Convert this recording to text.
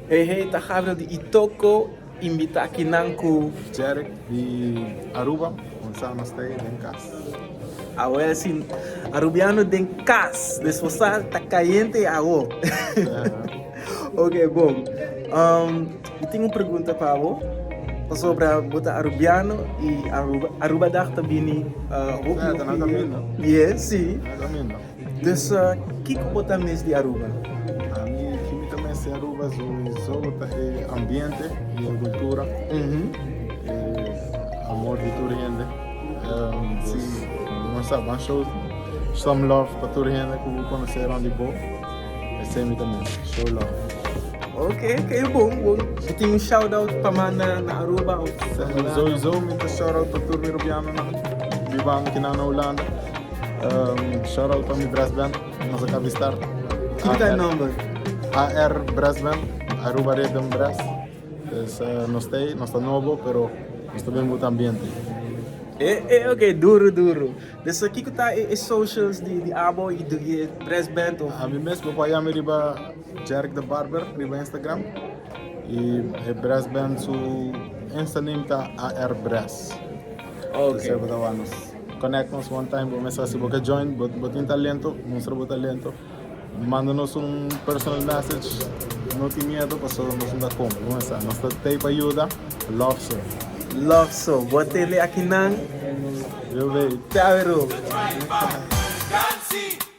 Hey hey ta Gabriel di Itoco invita aki nan cu. Jerek di Aruba con Sama stay den cas. Awel si Arubiano den cas desfo sa ta cayente awo. Ok bon um mi tin un pregunta pa bo pasobra bo ta Arubiano y Aruba dag ta bini uh hopi hopi dia. Yes si. Dessa, kiko bo ta mes di Aruba? Ami, ki mi ta mes di Aruba su i so ta e ambiente i e gultura, e amor di tur hende. Si nos sa ban show some love pa tur hende ku bo konosé rònt di bo, esei mi ta mes, show love. Ok, ok, bon, bon. Bo tin un shout out pa manda na Aruba òf Holanda? Sowieso mi ta shout out pa tur Birubianonan, Bibanokinan na Holanda. Shout out pa mi brass band nos a ka bistar. Kiko ta e nomber? AR Brass Band, Aruba Rhythm Brass. Pues uh, nos está ahí, nos está nuevo, pero nos está bien buen ambiente. Eh, eh, ok, duro, duro. Dus uh, kiko ta e, e socials di, di abo i di e brass band of? A mi mes bo paya mi riba Jerk the Barber riba Instagram. I e brass band su Insta name ta AR Brass. Dus Ok. e bo ta wanos. Connect nos one time bo mester si bo ke join bo tin talento mustra bo talento manda nos un personal message no tin miedo paso nos no ta con bo mester sa nos ta tey pa yuda love so love so bo tin de akinan yo bay te awe room.